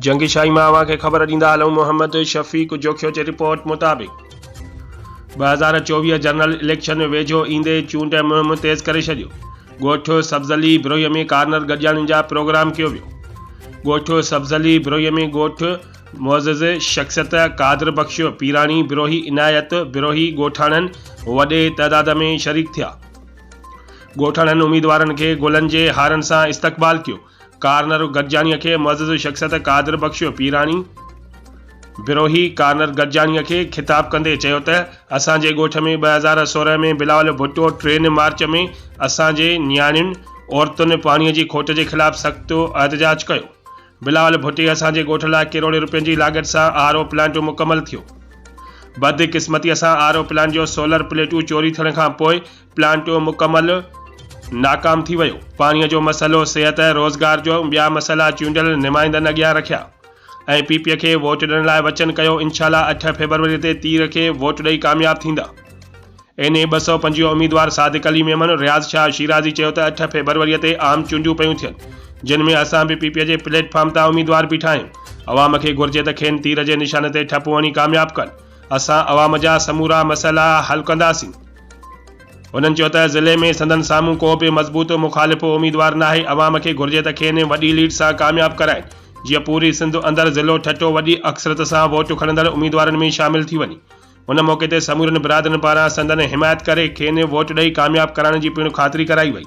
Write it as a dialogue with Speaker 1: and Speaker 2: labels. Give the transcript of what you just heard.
Speaker 1: جنگ شاهي مان اوهان کي خبر ڏيندا هلون محمد شفيق جوکيو جي رپورٽ مطابق ٻه هزار چوويهه جنرل اليڪشن ويجهو ايندي چونڊ مهم تيز ڪري ڇڏيو ڳوٺ سبزلي بروهي ۾ ڪارنر گڏجاڻين جا پروگرام ڪيو ويو ڳوٺ سبزلي بروهي ۾ ڳوٺ معزز شخصيت قادر بخش پيراڻي بروهي عنايت بروهي ڳوٺاڻن وڏي تعداد ۾ شريڪ ٿيا ڳوٺاڻن اميدوارن کي گلن جي هارن سان استقبال ڪيو ڪارنر گڏجاڻيء کي معزز شخصيت قادر بخش پيراڻي بروهي ڪارنر گڏجاڻيء کي خطاب ڪندي چيو ته اسان جي ڳوٺ ۾ ٻه هزار سورهن ۾ بلاول ڀٽو ٽين مارچ ۾ اسان جي نياڻين عورتن پاڻيء جي کوٽ جي خلاف سخت احتجاج ڪيو. بلاول ڀٽي اسان جي ڳوٺ لاء ڪروڙين روپين جي لاڳت سان آر او پلانٽ مڪمل ٿيو. بدقسمتيء سان آر او پلانٽ جو سولر پليٽون چوري ٿيڻ کان پوء پلانٽ مڪمل ناڪام ٿي ويو، پاڻي جو مسئلو، صحت ۽ روزگار جو ٻيا مسئلا چونڊيل نمائندن اڳيان رکيا ۽ پي پي کي ووٽ ڏيڻ لاء وچن ڪيو، انشاءالله اٺ فيبروري تي تير کي ووٽ ڏئي ڪامياب ٿيندا. اين اي ٻه سؤ پنجويهه اميدوار صادق علي ميمڻ، رياض شاهه شيرازي چيو ته اٺ فيبروري تي عام چونڊيون پيون ٿين جن ۾ اسان به پي پي جي پليٽ فارم تان اميدوار بيٺا آهيون، عوام کي گهرجي ته کين تير جي نشان تي ٺپو هڻي ڪامياب ڪن، اسان عوام جا سمورا مسئلا حل ڪنداسين. هنن چيو ته ضلعي ۾ سندن سامهون ڪو به مضبوط مخالف اميدوار ناهي، عوام کي گهرجي ته کين وڏي ليڊ سان ڪامياب ڪرائين، جيئن پوري سنڌ اندر ضلعو ٺٽو وڏي اڪثريت سان ووٽ کڻندڙ اميدوارن ۾ شامل ٿي وڃي. ان موقعي تي سمورين برادرين پاران سندن حمايت ڪري کين ووٽ ڏئي ڪامياب ڪرائڻ جي پڻ خاطري ڪرائي وئي.